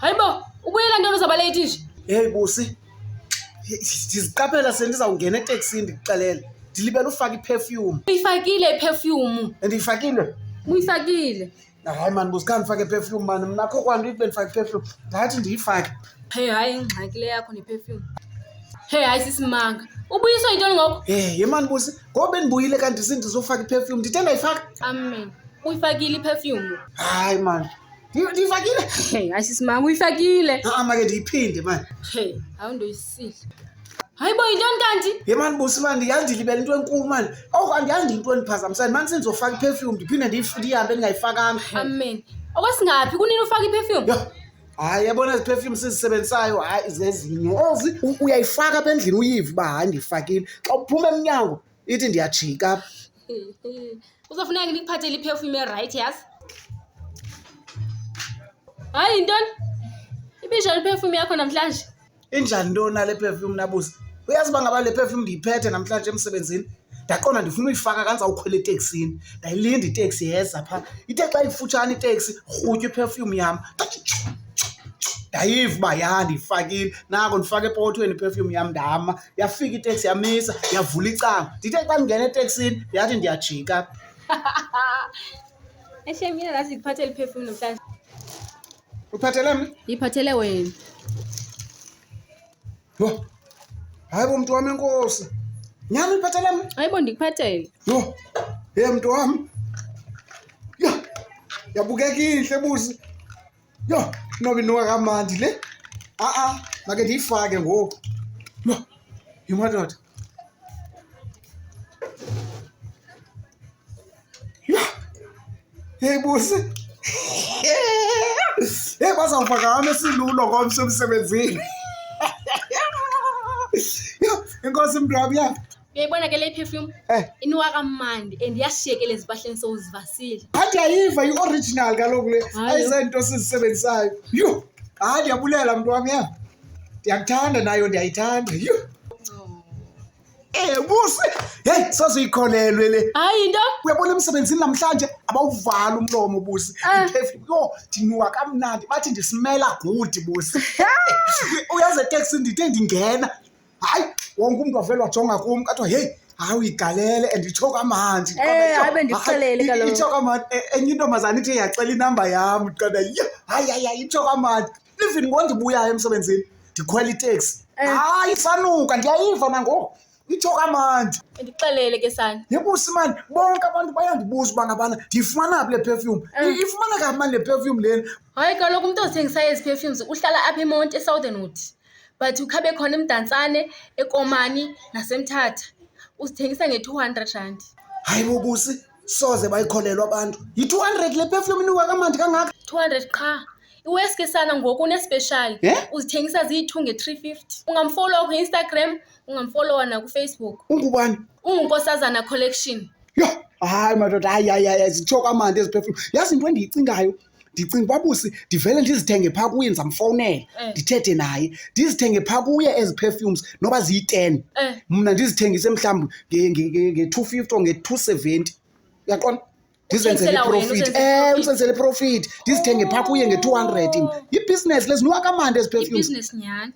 Hayibo, ubuyela ntoni uzabale ithishi? Hey busi. Ndiziqaphela sendizawungena eteksini ndikuxelele. Ndilibele ufaka iperfume. Uyifakile iperfume. Andiyifakile. Uyifakile. Hayi mani busi khange ndifake iperfume mani mna kho kwanto ibe ndifake iperfume. Ndathi ndiyifake. Hey hayi ingxaki le yakho neperfume. Hey hayi sisimanga. Ubuyiswa yintoni ngoku? Hey yemani busi. Ngoba bendibuyile kanti sindizofaka i-perfume. Ndithe ndayifaka? Amen. Uyifakile i-perfume? Hayi mani. Ndi- Ndiyifakile? Hey, hayi sisi mama uyifakile. Ha-a make ndiyiphinde mani. Hey, hawu ndoyisile. Hayi bo yintoni kanti? Ye mani busi mani yandilibela into enkulu mani. Oku andiyazi into endiphazamisayo. Mani sendizofaka i-perfume ndiphinde ndiyif- ndihambe ndingayifakanga. Amen. Okwesingaphi kunini ufaka i-perfume? Yho, hayi yabona ezi perfume sizisebenzisayo hayi zezinye ezi U- uyayifaka apha endlini uyive uba hayi ndiyifakile xa uphuma emnyango ithi ndiyajika apha uzofuneka ke ndikuphathele iperfume erayithi yazi hayi yintoni ibinjani iperfume yakho namhlanje Injani into na le perfume nabuza? Uyazi uba ngaba le perfume ndiyiphethe namhlanje emsebenzini? Ndaqonda ndifuna uyifaka kanza ukhwela eteksini. Ndayilinda iteksi yeza phaa. Ithe xa ifutshane iteksi rhutyu iperfume yam. Ndathi tshu, tshu, tshu. Ndayiva uba ya ndiyifakile. Nako ndifake epokothweni iperfume yam ndama. Yafika iteksi yamisa yavula icango. Ndithe xa ndingena eteksini yathi ndiyajika. Eshem mina lazi ndiphathe liphefumlo mhlawumbi Uphatele mna? Yiphathele wena. Yho. Hayi bo mntu wam enkosi. Nyam uyiphathele mna? Hayi bo ndikuphathele. Yho. Ye mntu wam. Yho. Yabukeka intle buzi. Yho, noba inuka kamandi le. A-a, make ndiyifake ngoku. Yho. Yho madoda. Hey busi. Hey bazawufaka hame silulo ngomso emsebenzini. Inkosi mntu ya. Uyayibona ke le perfume? Eh. Iniwa kamandi and yashiyekela ezibahleni sowuzivasile. Phantsi ayiva i-original kaloku le. Ayizento sizisebenzissayo. Yho! Hayi ndiyabulela mntu wam ya. ndiyakuthanda nayo ndiyayithanda yhu ebuse eh, heyi sasiyikholelwe le hayi into uyabona emsebenzini namhlanje abawuvala umlomo busi ah. iphefli yho ndiniwa kamnandi bathi ndisimela gudi busi uyazi eteksi ndide ndingena hayi wonke umntu avele wajonga kum kathiwa heyi hayi uyigalele and itsho kamandi eh, hayi bendikuxelele kaloku itsho kamandi e, enye intombazana ithi yacela inamba yam qada yho hayi hayi hayi itsho kamandi even ngoku ndibuyayo emsebenzini ndikhwela iteksi Eh. hayi sanuka ndiyayiva nangoku itsho kamandi ndixelele ke sana yebusi mani bonke abantu bayandibuza uba ngabana ndiyifumana phi le perfume Eh. I- ifumaneka phi mani le perfume lena hayi kaloku umntu ozithengisa ezi perfumes uhlala apha emonti esouthernwood but ukhabe khona emdantsane ekomani nasemthatha uzithengisa nge-two hundred rand hayi bobusi soze bayikholelwa abantu yi-two hundred le perfume inuka kamandi kangaka two hundred qha iweske sana ngoku unespeshali Eh? uzithengisa ziyi-two nge-three fifty ungamfolowa kwi-instagram ungamfolowa nakufacebook ungubani ungunkosazana collection yho hayi madoda hayi hayi hayi zitsho kamandi eziphefumlo yazi into endiyicingayo ndicinga uba busi ndivele ndizithenge phaa kuye ndizamfowunela Eh. ndithethe naye ndizithenge phaa kuye ezi perfumes noba ziyi-ten Eh. mna ndizithengise mhlawumbi nge-two fifty or nge-two seventy uyaqonda ndizenzele iprofiti eh usenzele iprofiti ndizithenge phaa kuye nge-two hundred yibhizinesi lezi niwakamandi ezi perfumes